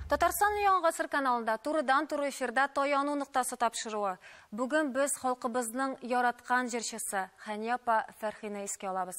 Татарстан яңа гасыр каналында турыдан-туры эфирда таяну ноктасы тапшыруы. Бүген без халкыбызның яраткан җырчысы Хәния апа Фәрхине искә алабыз.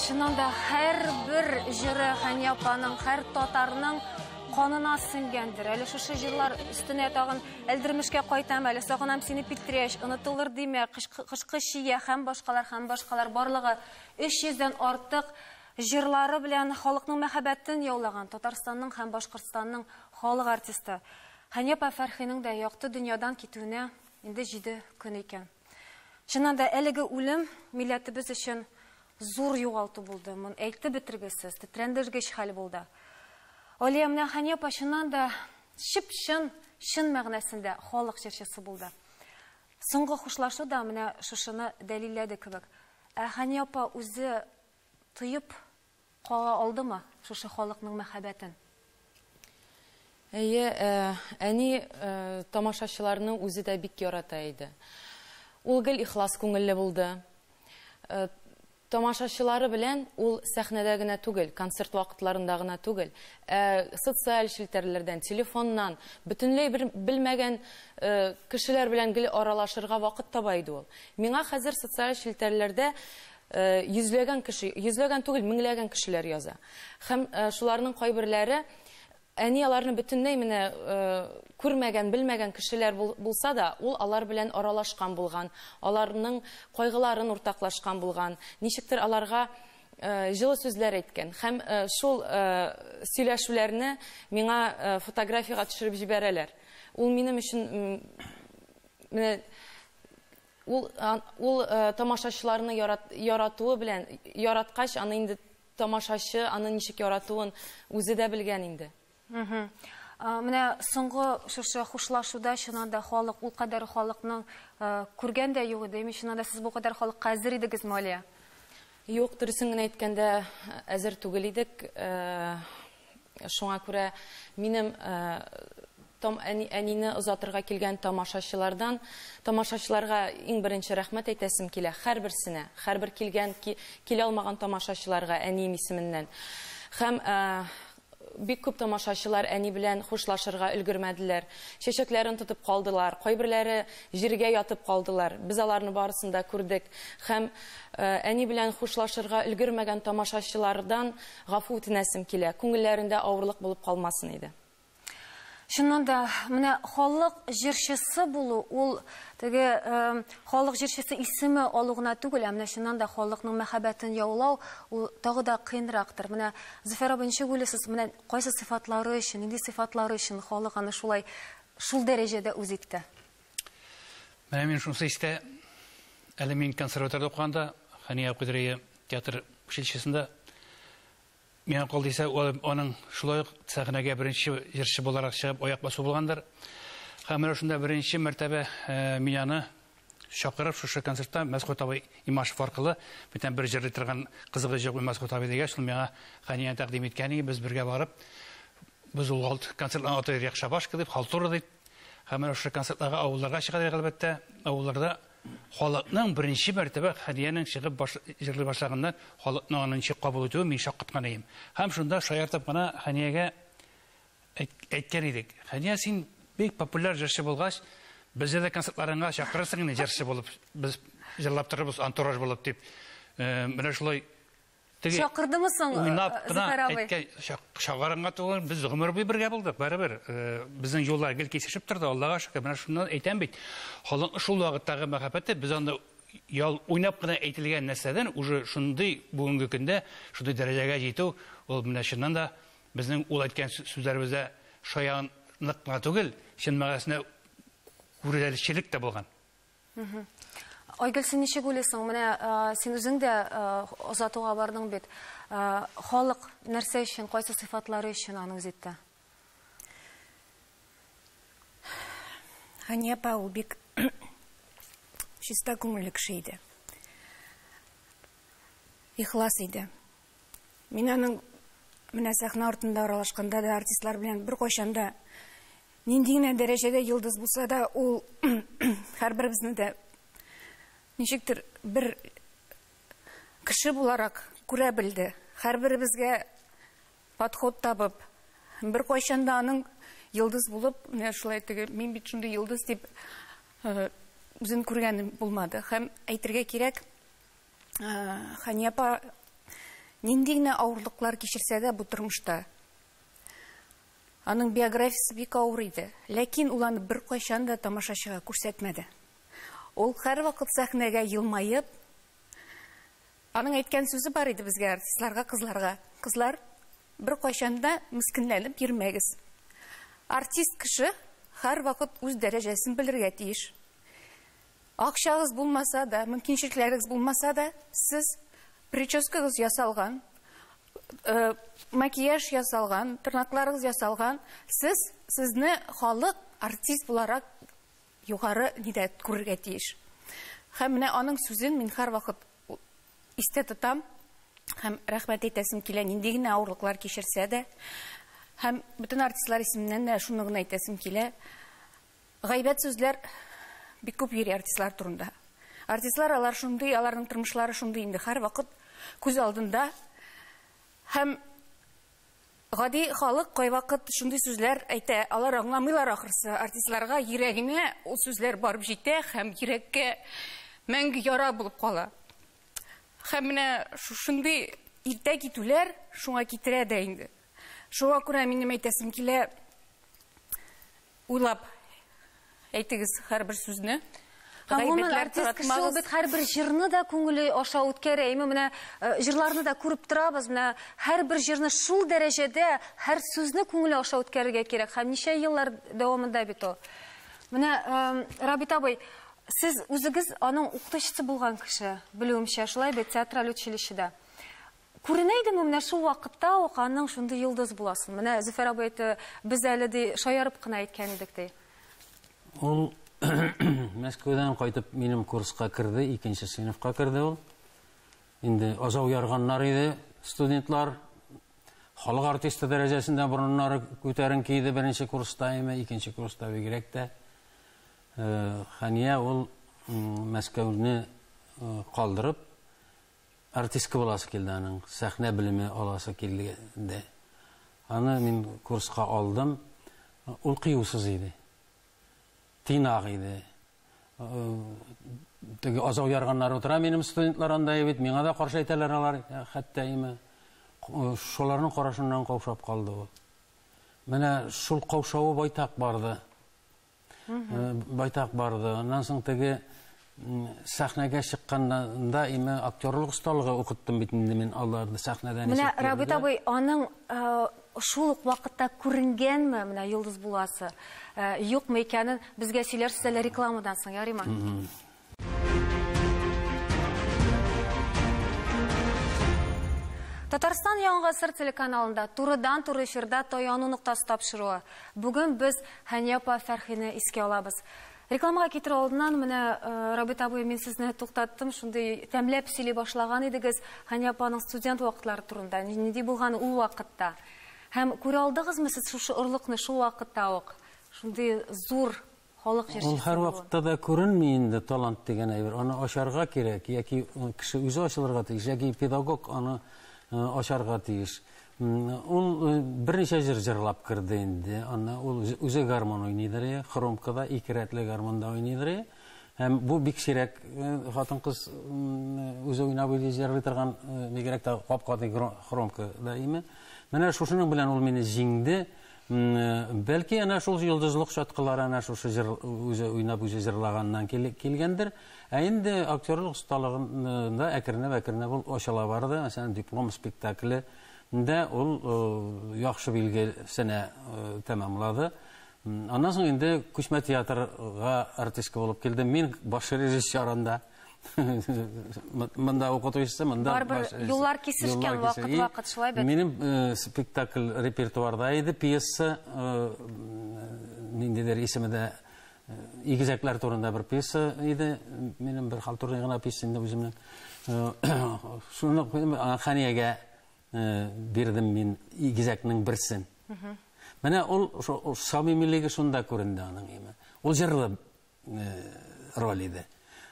Чынында һәр бер җыры Хәния апаның, һәр татарның канына сеңгәндер. Әле шушы җырлар өстенә тагын Әлдермешкә кайтам әле, сагынам сине Питрәч, Онытылыр димә, Кышкы чия һәм башкалар һәм башкалар барлыгы 300 дән артык җырлары белән халыкның мәхәббәтен яулаган, Татарстанның һәм Башкортстанның Халык артисты Хәния апа Фәрхинең дә якты дөньядан китүенә инде җиде көн икән. Чыннан да, әлеге үлем милләтебез өчен зур югалту булды, моны әйтеп бетергесез, тетрәндергеч хәл булды. Алия, менә Хәния апа чыннан да чып-чын, чын мәгънәсендә халык җырчысы булды. Соңгы хушлашу да менә шушыны дәлилләде кебек. Ә Хәния апа үзе тоеп Кага алдымы шушы халыкның мәхәббәтен? Әйе, әни тамашачыларны үзе дә бик ярата иде. Ул гел ихлас күңелле булды. Тамашачылары белән ул сәхнәдә генә түгел, концерт вакытларында гына түгел, ә социаль челтәрләрдән, телефоннан, бөтенләй бер белмәгән кешеләр белән гел аралашырга вакыт таба иде ул. Миңа хәзер социаль челтәрләрдә Йөзләгән кеше, йөзләгән түгел, меңләгән кешеләр яза. Һәм шуларның кайберләре, әни аларны бөтенләй менә күрмәгән, белмәгән кешеләр булса да, ул алар белән аралашкан булган, аларның кайгыларын уртаклашкан булган, ничектер аларга җылы сүзләр әйткән. Һәм шул сөйләшүләрне миңа фотографиягә төшереп җибәрәләр. Ул минем өчен менә Ул ул тамашачыларны ярат яратуы белән яраткач, аны инде тамашачы аны ничек яратуын үзе дә белгән инде. Мхм. Менә соңгы шушы хушлашуда чыннан да халык ул кадәр халыкның күргән дә юк иде. Чыннан да сез бу кадәр халыкка әзер идегезме, Алия? Юк, дөресен генә әйткәндә, әзер түгел идек. Шуңа күрә минем Том әнине озатырга килгән тамашачылардан, тамашачыларга иң беренче рәхмәт әйтәсем килә, һәрберсенә, һәрбер килгән, килә алмаган тамашачыларга әнием исеменнән. Һәм Бик күп тамашачылар әни белән хушлашырга өлгермәделәр. Чәчәкләрен тотып калдылар, кайберләре җиргә ятып калдылар. Без аларны барысын да күрдек һәм әни белән хушлашырга өлгермәгән тамашачылардан гафу үтенәсем килә, күңелләрендә авырлык булып калмасын иде. Чыннан да, менә халык җырчысы булу, ул теге халык җырчысы исеме алу гына түгел, ә менә чыннан да халыкның мәхәббәтен яулау, ул тагы да кыенрактыр. Менә, Зөфәр абый, ничек уйлыйсыз, менә кайсы сыйфатлары өчен, нинди сыйфатлары өчен халык аны шулай, шул дәрәҗәдә үз итте? Менә мин шунысы истә, әле мин консерваториядә укыганда, Хәния Кудрия театр училищесында, Миңа калдыйса, аның шулай ук сәхнәгә беренче җырчы буларак чыгып аяк басу булгандыр. Һәм менә шунда беренче мәртәбә мин аны чакырып, шушы концертта Мәсхүт абый Имашев аркылы, бүтән бер җырлый торган кызыгыз җык бит Мәсхүт абый дигәч, ул миңа Хәния тәкъдим иткән иде, без бергә барып, без ул алт концертның аты Рекшабашка дип, халтура дип. Һәм менә шушы концертларга авылларга чыга әле, әлбәттә, авылларда Халыкның беренче мәртәбә Хәниянең чыгып баш җырлый башлаганда халыкның аны ничек кабул итүен мин шаккаткан идем. Һәм шунда шаяртып кына Хәниягә әйт әйткән идек, Хәния, син бик популяр җырчы булгач, безне дә концертларыңа чакырырсың инде җырчы булып, без җырлап торырбыз антураж булып дип. Менә шулай Теге Чакырдымы соң э, уйнап кына Зөфәр абый? әйткән чак- чакырынга түгел, без гомер буе бергә булдык, барыбер. Э, Безнең юллар гел кисешеп торды, Аллага шөкер. Менә шуннан әйтәм бит, халыкның шул вакыттагы мәхәббәте без анда ял уйнап кына әйтелгән нәрсәдән уже шундый бүгенге көндә шундый дәрәҗәгә җитү, ул менә чыннан да безнең ул әйткән сү- сүзләребездә шаянлык кына түгел, чын мәгънәсендә күрәлешчелек тә булган. Айгөл, син ничек уйлыйсың? Менә син үзең дә озатуга бардың бит. Халык нәрсә өчен, кайсы сыйфатлары өчен аны үзитте? Хәния апа ул бик чиста күңелле кеше иде. Ихлас иде. Мин аның менә сәхнә артында аралашканда да артистлар белән беркайчан да нинди генә дәрәҗәдә йолдыз булса да, ул һәрберебезне дә ничектер бер кеше буларак күрә белде. Һәрберебезгә подход табып, беркайчан да аның йолдыз булып, менә шулай теге мин бит шундый йолдыз дип үзен күргән булмады. Һәм әйтергә кирәк, Хания апа нинди генә авырлыклар кичерсә дә бу тормышта. Аның биографиясе бик авыр иде, ләкин ул аны беркайчан да тамашачыга күрсәтмәде. Ул һәрвакыт сәхнәгә елмаеп, аның әйткән сүзе бар иде безгә, артистларга, кызларга. Кызлар, беркайчан да мескенләнеп йөрмәгез. Артист кеше һәрвакыт үз дәрәҗәсен белергә тиеш. Акчагыз булмаса да, мөмкинчелекләрегез булмаса да, сез прическагыз ясалган, макияж ясалган, тырнакларыгыз ясалган, сез сезне халык артист буларак югары нидә күрергә тиеш. Һәм менә аның сүзен мин һәрвакыт истә тотам һәм рәхмәт әйтәсем килә, нинди генә авырлыклар кичерсә дә. Һәм бөтен артистлар исеменнән дә шуны гына әйтәсем килә, Гайбәт сүзләр бик күп йөри артистлар турында. Артистлар алар шундый, аларның тормышлары шундый инде, һәрвакыт күз алдында. Һәм гади халык кайвакыт шундый сүзләр әйтә, алар аңламыйлар ахрысы. Артистларга йөрәгенә ул сүзләр барып җитә һәм йөрәккә мәңге яра булып кала. Һәм менә шушындый иртә китүләр шуңа китерә дә инде. Шуңа күрә минем әйтәсем килә, Уйлап әйтегез һәрбер сүзне. Гомумән, артист кеше ул бит һәрбер җырны да күңеле аша үткәрә. Име менә э, җырларны да күреп торабыз. Менә һәрбер җырны шул дәрәҗәдә һәр сүзне күңеле аша үткәрергә кирәк. Һәм ничә еллар дәвамында бит ул. Менә э, Рабит абый, сез үзегез аның укытучысы булган кеше, белүемчә, шулай бит театраль училищеда. Күренә идеме менә шул вакытта ук аның шундый йолдыз буласын? Менә Зөфәр абый әйтте, без әле ди шаярып кына әйткән идек ди. Ул Мәскәүдән кайтып минем курска керде, икенче сыйныфка керде ул. Инде азау ярганнар иде студентлар. Халык артисты дәрәҗәсендә борыннары күтәренке иде беренче курста име, икенче курста бигрәк тә. Хәния ул Мәскәүне калдырып, артистка буласы килде аның, сәхнә белеме аласы килде. Аны мин курска алдым. Ул кыюсыз иде. Тыйнак иде. Теге азау ярганнар утыра минем студентлар анда бит, миңа да каршы әйтәләр алар, хәтта име. Шуларның карашыннан каушап калды ул. Менә шул каушавы байтак барды. Байтак барды. Аннан соң теге сәхнәгә чыкканда име актерлык осталыгы укыттым бит инде мин аларны сәхнәдән. Менә Рабит абый аның шул ук вакытта күренгәнме менә йолдыз буласы, юкмы икәнен безгә сөйләрсез әле рекламадан соң, ярыймы? Татарстан яңа гасыр телеканалында турыдан-туры эфирда таяну ноктасы тапшыруы. Бүген без Хәния апа Фәрхине искә алабыз. Рекламага китерү алдыннан менә э, Рабит абый мин сезне туктаттым, шундый тәмләп сөйли башлаган идегез Хәния апаның студент вакытлары турында, нинди булган ул вакытта. Һәм күрә алдыгызмы сез шушы орлыкны шул вакытта ук? Шундый зур халык җырчысы булу. Ул һәрвакытта да күренми инде талант дигән әйбер. Аны ачарга кирәк, яки кеше үзе ачылырга тиеш, яки педагог аны ачарга тиеш. Ул берничә җыр җырлап керде инде, аны ул үзе гармон уйныйдыр ия, хромкада ике рәтле гармонда уйныйдыр ия. Һәм бу бик сирәк хатын-кыз үзе уйнап үзе җырлый торган, бигрәк тә гап-гади хромкада ими. Менә шушының белән ул мине җиңде. Бәлки әнә шул йолдызлык чаткылары әнә шушы җыр үзе уйнап үзе җырлаганнан килгәндер. Ә инде актерлык осталыгында әкренләп-әкренләп ул ачыла барды. Мәсәлән, Диплом спектакле дә ул яхшы билгесенә тәмамлады. Аннан соң инде Күчмә театрга артистка булып килдем. Мин баш режиссер анда. Монда укытучысы, монда... Барбар, юллар кисешкен, вакыт-вакыт, шулай бит? Минем э, спектакль репертуарда иде, пьеса, э, ниндидер исеме дә, э, игезәкләр турында бер пьеса иде, минем бер халтурный гына пьеса инде үземнең. Шуны Ханиягә бирдем мин игезәкнең берсен. Менә ул самимилеге шунда күренде аның име. Ул җырлы роль иде.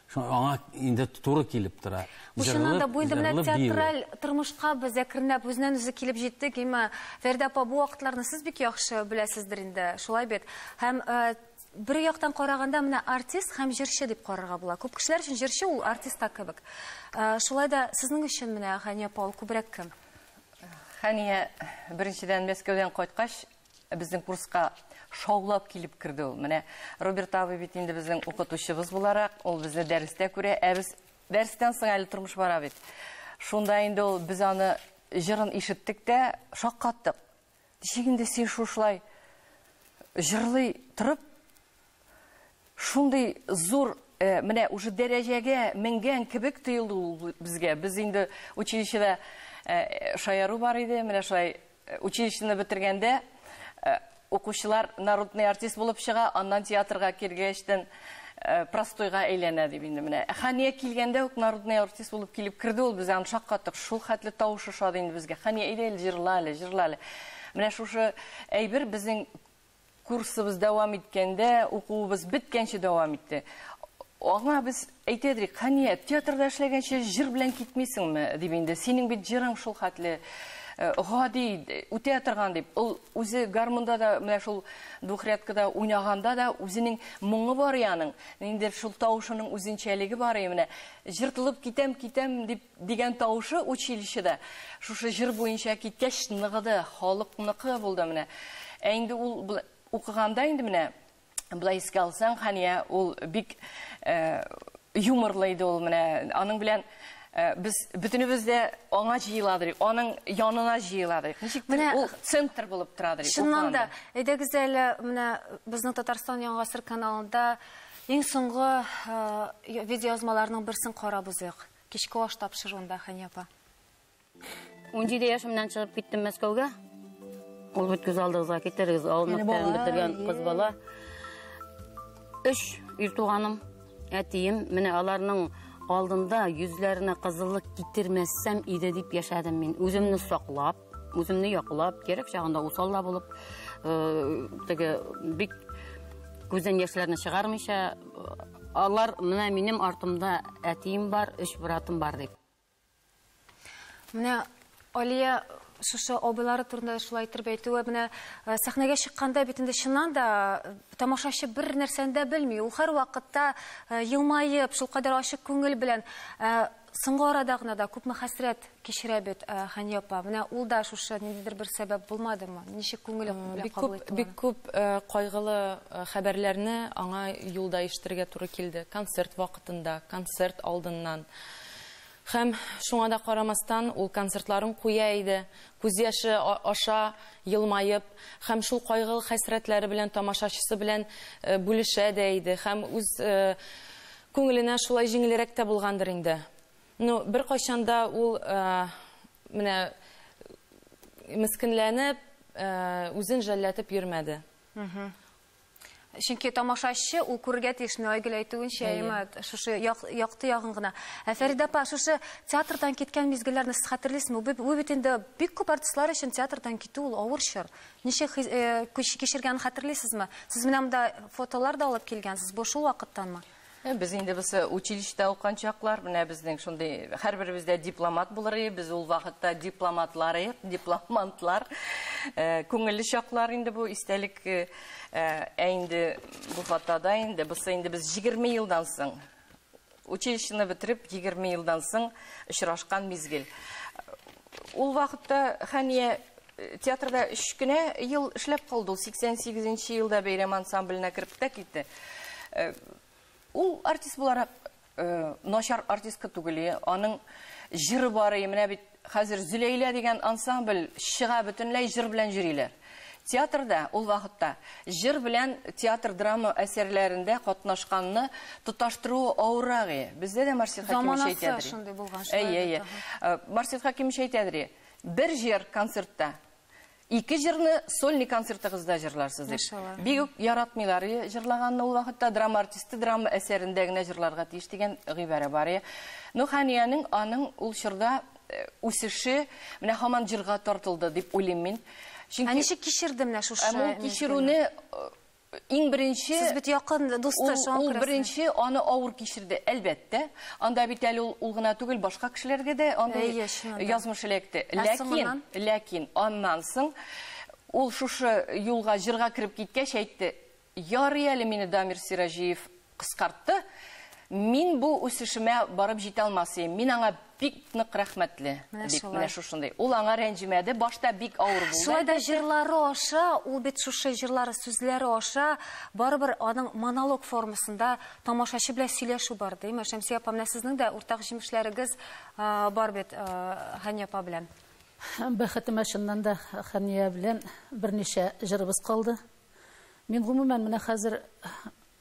Шуңа аңа инде туры килеп тора. Бу чыннан да бу инде менә театраль тормышка без әкренләп үзеннән үзе килеп җиттек. Имма Фәридә апа бу вакытларны сез бик яхшы беләсездер инде. Шулай бит. Һәм э, бер яктан караганда менә артист һәм җырчы дип карарга була. Күп кешеләр өчен җырчы ул артист та кебек. Э, шулай да сезнең өчен менә Хәния Паул күбрәк кем? Хәния беренчедән Мәскәүдән кайткач Безнең курска шаулап килеп керде ул. Менә Роберт абый бит инде безнең укытучыбыз буларак, ул безне дәрестә күрә, ә без дәрестән соң әле тормыш бара бит. Шунда инде ул без аны җырын ишеттек тә, шаккаттык. Ничек инде син шушылай җырлый торып, Шундый зур э, менә уже дәрәҗәгә менгән кебек тоелды ул безгә. Без инде училищеда э, шаяру бар иде. Менә шулай э, училищены бетергәндә э, укучылар народный артист булып чыга, аннан театрга кергәчтен э, простойга әйләнә дип инде менә. Ә Хания килгәндә үк народный артист булып килеп керде ул, без аны шаккаттык. Шул хәтле тавышы шат инде безгә. Хания әйдә әле җырла әле, җырла әле. Менә шушы әйбер безнең Курсыбыз дәвам иткәндә, укуыбыз беткәнче дәвам итте. Аңа без әйтә идек, Хәния, театрда эшләгәнче җыр белән китмисеңме? дип инде. Синең бит җырың шул хәтле э, гади, үтә торган дип. Ул үзе гармунда да, менә шул двухрядкада уйнаганда да үзенең моңы бар яның. Инде шул тавышының үзенчәлеге бар и менә. Җыртылып китәм, китәм дип Дигән тавышы училищеда шушы җыр буенча киткәч ныгыды, халыкныкы булды менә. Ә инде ул укыганда инде менә болай искә алсаң, Хания, ул бик юморлы иде ул менә. Аның белән без бөтенебез дә аңа җыеладырыйк, аның янына җыеладырыйк. Ничектер ул центр булып торадырыйк. Чыннан да, әйдәгез әле менә безнең Татарстан Яңа гасыр каналында иң соңгы видеоязмаларның берсен карап узыйк. Кичке аш тапшыруында, Хәния апа. Унҗиде яшемнән чыгып киттем Мәскәүгә. Ул бит күз алдыгызга китерегез, авыл мәктәбен бетергән кыз бала. Өч ир туганым, әтием, менә аларның алдында йөзләренә кызыллык китермәссәм иде дип яшәдем мин. Үземне саклап, Үземне яклап, кирәк чагында усал да булып, э, теге бик күздән яшьләрне чыгармыйча, алар менә минем артымда әтием бар, өч братым бар дип. Менә Алия шушы абыйлары турында шулай итеп әйтүе менә э, сәхнәгә чыкканда бит инде чыннан да э, тамашачы бер нәрсәне дә белми. Ул һәрвакытта э, елмаеп, шулкадәр ачык күңел белән Соңгы арада гына да күпме хәсрәт кичерә бит Хәния апа. Менә ул да шушы ниндидер бер сәбәп булмадымы? Ничек күңеле белән кабул итте аны? Бик күп кайгылы хәбәрләрне аңа юлда ишетергә туры килде. Концерт вакытында, концерт алдыннан. Һәм шуңа да карамастан, ул концертларын куя иде, күз яше аша елмаеп һәм шул кайгылы хәсрәтләре белән тамашачысы белән бүлешә дә иде һәм үз Күңеленә шулай җиңелрәк тә булгандыр инде. Ну, беркайчан да ул менә мескенләнеп, үзен жәлләтеп йөрмәде. Чөнки тамашачы ул күрергә тиеш, менә Айгөл әйтүенчә, әйеме, шушы якты ягын гына. Ә Фәридә апа, шушы театрдан киткән мизгелләрне сез хәтерлисезме? Ул бит инде бик күп артистлар өчен театрдан китү ул авыр чор. Ничек хис, э, көч кичергәнен хәтерлисезме? Сез менә монда фотолар да алып килгәнсез. Бу шул вакыттанмы? Э, без инде без э, училищеда укыган чаклар, менә безнең шундый һәрберебез дә дипломат булыр идек. Без ул вакытта дипломатлар идек, дипломантлар. Э, күңелле чаклар инде бу истәлек. Ә инде бу фотода инде, бусы инде без 20 елдан соң Училищены бетереп, егерме елдан соң очрашкан мизгел. Ул вакытта Хәния э, театрда өч кенә ел эшләп калды. Ул 88 нче елда бәйрәм ансамбленә кереп тә китте. Э, ул артист буларак э, начар артистка түгел. Аның җыры бар, менә бит Хәзер Зөләйлә дигән ансамбль чыга, бөтенләй җыр белән йөриләр. Театрда ул вакытта җыр белән театр-драма әсәрләрендә катнашканны тоташтыруы авыррак и. Бездә дә Марсет Хәкимович әйтә дери. Заманасы шундый булган, шулай бит. Әйе, әйе. Марсет Хәкимович әйтә дери, бер җыр концертта Ике җырны сольный концертыгызда җырларсыз дип. Машалла. Бик үк яратмыйлар и, җырлаганны ул вакытта драма артисты драма әсәрендә генә җырларга тиеш дигән гыйбарә бар и. Ну, Ханиянең аның ул чорда э, үсеше менә һаман җырга тартылды дип уйлыйм мин. Ә Чөнки ничек кичерде менә шушы? Ә бу мизгелне? кичерүне э, Иң беренче Сез бит якын дусты, шуңа күрә. Ул беренче аны авыр кичерде, әлбәттә. Анда бит әле ул ул гына түгел, башка кешеләргә дә андый язмыш эләкте. Ләкин, ләкин аннан соң ул шушы юлга, җырга кереп киткәч әйтте, Ярый әле мине Дамир Сираҗиев Кыскартты, Мин бу үсешемә барып җитә алмас идем. Мин аңа бик нык рәхмәтле. Дип, менә шушындый. Ул аңа рәнҗемәде, башта бик авыр булды. Шулай да җырлары аша, ул бит шушы җырлары сүзләре аша, барыбер аның монолог формасында тамашачы белән сөйләшү бар, димме? Шәмсия апа, менә сезнең дә уртак җимешләрегез бар бит Хәния апа белән. Бәхетемә чыннан да Хәния белән берничә җырыбыз калды. Мин гомумән менә хәзер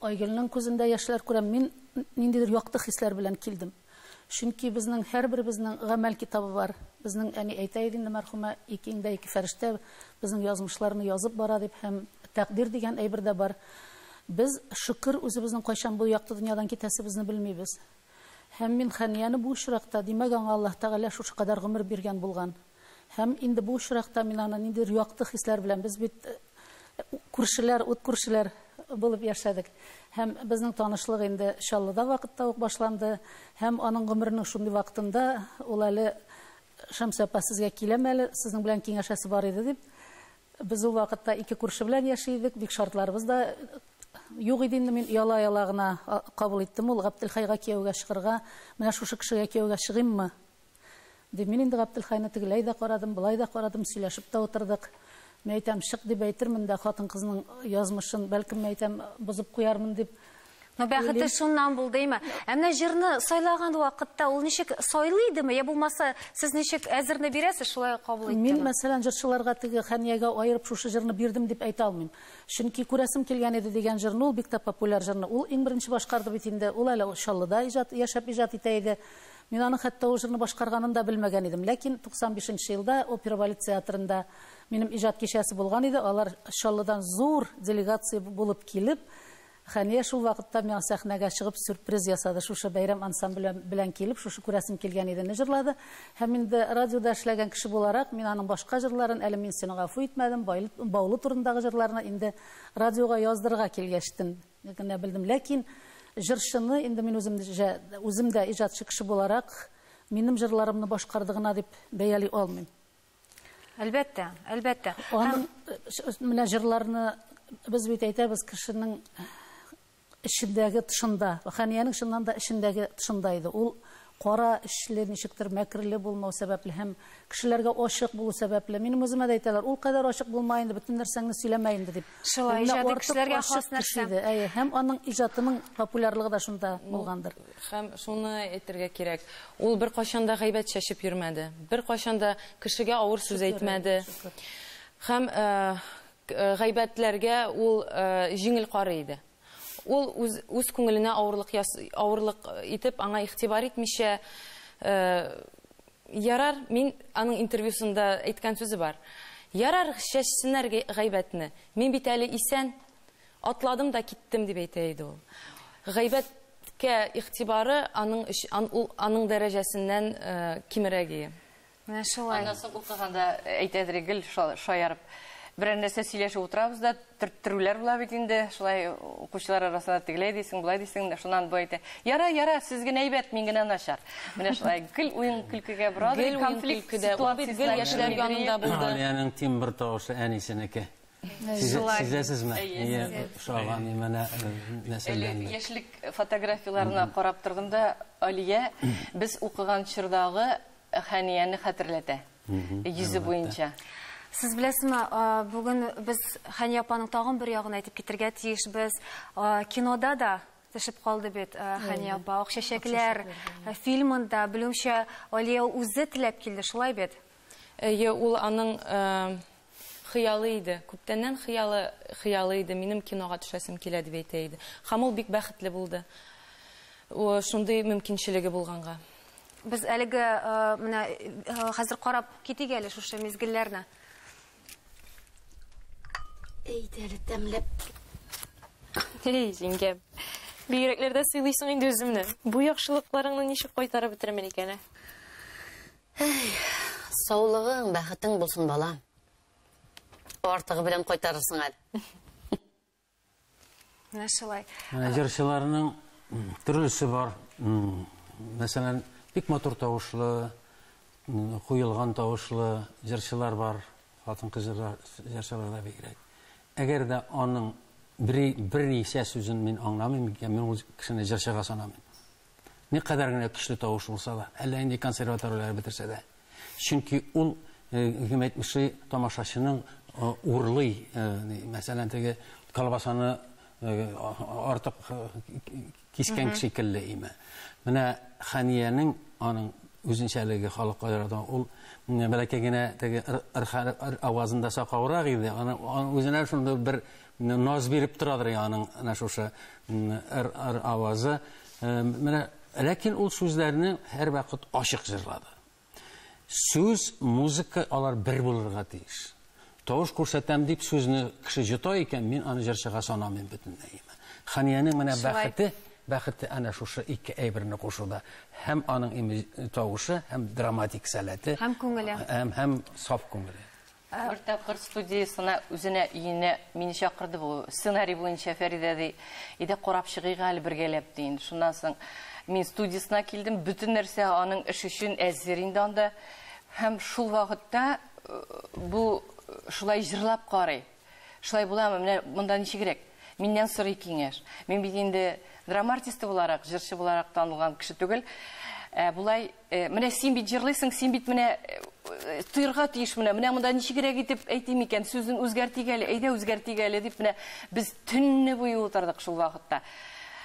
Айгөлнең күзендә яшьләр күрәм. Мин ниндидер якты хисләр белән килдем. Чөнки безнең һәрберебезнең гамәл китабы бар. Безнең әни әйтә иде инде, мәрхүмә, Икеңдә ике фәрештә безнең язмышларны язып бара дип һәм тәкъдир дигән әйбер дә бар. Без, шөкер, үзебезнең кайчан бу якты дөньядан китәсебезне белмибез. Һәм мин Хәнияне бу очракта, димәк, аңа Аллаһ Тәгалә шушы кадәр гомер биргән булган. Һәм инде бу очракта мин аны ниндидер якты хисләр белән, без бит күршеләр, ут күршеләр булып яшәдек. Һәм безнең танышлык инде Чаллыда вакытта ук башланды. Һәм аның гомеренең шундый вакытында ул әле Шәмсә апа, сезгә киләм әле, сезнең белән киңәшәсе бар иде, дип. Без ул вакытта ике күрше белән яши идек, бик шартларыбыз да юк иде инде, мин ояла-ояла гына кабул иттем ул Габделхайга кияүгә чыгырга, менә шушы кешегә кияүгә чыгыйммы? Ди, мин инде Габделхайны тегеләй дә карадым, болай да карадым, сөйләшеп тә утырдык. Мин әйтәм, чык дип әйтермен дә, хатын-кызның язмышын, бәлкем, мин әйтәм, бозып куярмын дип Ну, бәхете уйлыйм. шуннан булдыймы? Ә менә җырны сайлаган вакытта ул ничек сайлый идеме, я булмаса, сез ничек әзерне бирәсез, шулай кабул иттеме? Мин, мәсәлән, җырчыларга теге Хәниягә аерып шушы җырны бирдем дип әйтә алмыйм. Чөнки Күрәсем килгән иде дигән җырны, ул бик тә популяр җырны, ул иң беренче башкарды бит инде, ул әле Чаллыда иҗат, яшәп иҗат итә иде. Мин аның хәтта ул җырны башкарганын да белмәгән идем. Ләкин 95 нче елда Опера балет театрында минем иҗат кичәсе булган иде. Алар Чаллыдан зур делегация булып килеп, Хәния шул вакытта миңа сәхнәгә чыгып сюрприз ясады. Шушы бәйрәм ансамбле белән килеп, шушы күрәсем килгән иде не җырлады. Һәм инде радиода эшләгән кеше буларак, мин аның башка җырларын, әле мин сине гафу итмәдем, Баулы турындагы җырларны инде радиога яздырырга килгәч тен генә белдем. Ләкин җырчыны инде мин үзем җә, үзем дә иҗатчы кеше буларак, минем җырларымны башкарды гына дип бәяли алмыйм. Әлбәттә, әлбәттә. Аның Һәм... менә җырларны без бит әйтәбез, кешенең эчендәге тышында. Хәниянең чыннан да эчендәге тышында иде. Ул Кара эчле, ничектер мәкерле булмау сәбәпле һәм кешеләргә ачык булу сәбәпле. Минем үземә дә әйтәләр, ул кадәр ачык булма инде, бөтен нәрсәңне сөйләмә инде, дип. Шулай, Менә иҗади артык кешеләргә ачык хас нәрсә. кеше иде. Әйе, һәм аның иҗатының популярлыгы да шунда булгандыр. Һәм шуны әйтергә кирәк, ул беркайчан да гайбәт чәчеп йөрмәде, беркайчан да кешегә авыр сүз Шөкер, әйе, әйтмәде. шөкер. Һәм э, э, гайбәтләргә ул э, җиңел карый иде. Ул үз, үз күңеленә авырлык, яс, авырлык итеп, аңа игътибар итмичә, э, ярар, мин аның интервьюсында әйткән сүзе бар. Ярар, чәчсеннәр гайбәтне. Мин бит әле исән. Атладым да киттем, дип әйтә иде ул. Гайбәт Кә игътибары аның ан, ул аның дәрәҗәсеннән э, кимерәге. Менә шулай. Аннан соң укыганда әйтәдер гел шаярып. Берәр нәрсә сөйләшеп утырабыз да, төрттерүләр була бит инде. Шулай укучылар арасында тегеләй дисең, булай дисең, шуннан бу әйтә. Яра, яра, сез генә әйбәт, мин генә начар. Менә шулай гел уен көлкегә бора, гел конфликт ситуациясе. Гел яшьләр янында булды. Алиянең тимбр тавышы әнисенеке. Сизәсезме? Шаган имәнә нәселдән. Яшьлек фотографияләренә карап тордым да, Алия, без укыган чордагы Хәнияне хәтерләтә. Йөзе буенча. Сез беләсезме, бүген без Хәния апаның тагын бер ягын әйтеп китергә тиешбез. Кинода да төшеп калды бит Хәния апа. Акчәчәкләр фильмында, белүемчә, Алия үзе теләп килде, шулай бит? Әйе, ул аның хыялы иде. Күптәннән хыялы, хыялы иде, минем кинога төшәсем килә дип әйтә иде. Һәм ул бик бәхетле булды. Шундый мөмкинчелеге булганга. Без әлеге менә хәзер карап китик әле шушы мизгелләрне. Әйдә әле тәмләп. Эй, җиңгәм. Бигрәкләрдә сыйлыйсың инде үземне. Бу яхшылыкларыңны ничек кайтарып бетермен икән, ә? Әй, саулыгың, бәхетең булсын, балам. Артыгы белән кайтарырсың әле. Менә шулай. Җырчыларның төрлесе бар. Мәсәлән, бик матур тавышлы, куелган тавышлы җырчылар бар. Хатын-кыз җырчыларда бигрәк. Әгәр дә аның берничә сүзен мин аңламыйм, мин ул кешене җырчыга санамыйм. никадәр генә көчле тавыш булса да, әллә нинди консерваторияләр бетерсә дә. Чөнки ул, кем әйтмешли, тамашачының урлый, мәсәлән, теге колбасаны артык кискән шикелле име. Менә Хәниянең аның үзенчәлеге халык аерада ул бәләкәй генә теге ыр авазында сакаурак иде, аны үзенә шундый бер Наз биреп торадыр яңа аның әнә шушы р-р авазы. Менә ләкин ул сүзләрне һәрвакыт ачык җырлады. Сүз, музыка алар бер булырга тиеш. Тавыш күрсәтәм дип сүзне кеше җота икән, мин аны җырчыга санамыйм бөтенләй. Ханиянең менә бәхете, бәхете әнә шушы ике әйберне кушуда. Һәм аның тавышы, һәм драматик сәләте. Һәм күңеле. Һәм саф күңеле. Бер тапкыр студиясенә үзенә өенә мине чакырды бу. Сценарий буенча Фәридә ди, иде карап чыгыйк әле бергәләп ди. Шуннан соң мин студиясенә килдем, бөтен нәрсә аның эш өчен әзер инде анда. Һәм шул вакытта бу шулай җырлап карый. Шулай буламы? Менә монда ничегрәк? Миннән сорый киңәш. Мин бит инде драма артисты буларак, җырчы буларак танылган кеше түгел. Ә болай Э, менә син бит җырлыйсың, син бит менә э, тыйрга тиеш менә, менә монда ничегрәк итеп әйтим икән, сүзен үзгәртик әле, әйдә үзгәртик әле дип менә без төнне буе утырдык шул вакытта.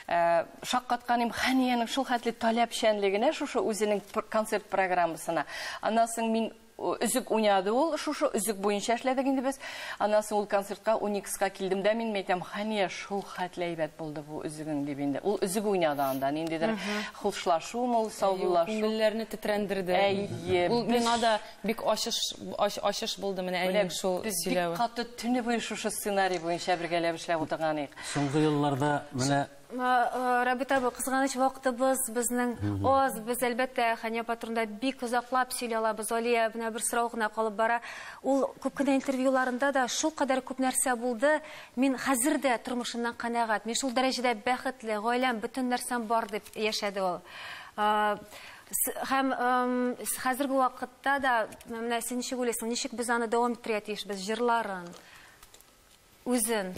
Э, шаккатканым Ханиянең шул хәтле таләпчәнлегенә шушы үзенең концерт программасына. Аннан соң мин Өзек уйнады ул, шушы өзек буенча эшләдек инде без. Аннан соң ул концертка Уникска килдем дә мин әйтәм, хәния, шул хәтле әйбәт булды бу өзегең дип инде. Ул өзек уйнады анда, ниндидер хушлашуым ул, саубуллашу. Күңелләрне тетрәндерде. Әйе. Ул миңа да бик ачыш, ачыш булды менә әнинең шул сөйләве. Без бик каты төне буе шушы сценарий буенча бергәләп эшләп утырган идек. Соңгы елларда менә Рабит абый, кызганыч вакытыбыз безнең аз. Без, әлбәттә, Хәния апа турында бик озаклап сөйли алабыз. Алия, менә бер сорау гына калып бара. Ул күп кенә интервьюларында да шул кадәр күп нәрсә булды. Мин хәзер дә тормышымнан канәгать. Мин шул дәрәҗәдә бәхетле, гаиләм, бөтен нәрсәм бар, дип яшәде ул. Һәм хәзерге вакытта да, менә син ничек уйлыйсың, ничек без аны дәвам иттерергә тиешбез, җырларын, үзен?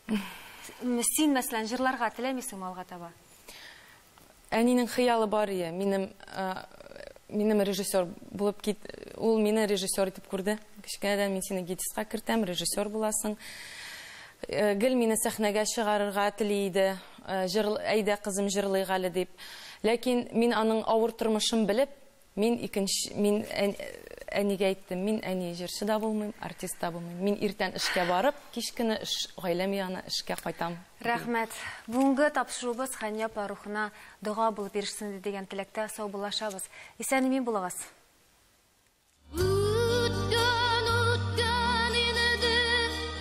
Син, мәсәлән, җырларга теләмисеңме алга таба? Әнинең хыялы бар ие, минем минем режиссер булып кит, ул мине режиссер итеп күрде. Кечкенәдән мин сине гидиска кертәм, режиссер буласың. Э, гел мине сәхнәгә чыгарырга тели иде, э, әйдә кызым җырлыйк әле дип. Ләкин мин аның авыр тормышын белеп, Мин икенч, мин әнигә әйттем, мин әни җырчы да булмыйм, артист та булмыйм. Мин иртән эшкә барып, кич кенә эш, гаиләм янына эшкә кайтам. Рәхмәт. Бүгенге тапшыруыбыз Хәния апа рухына дога булып ирешсен иде дигән теләктә саубуллашабыз. Исән-имин булыгыз.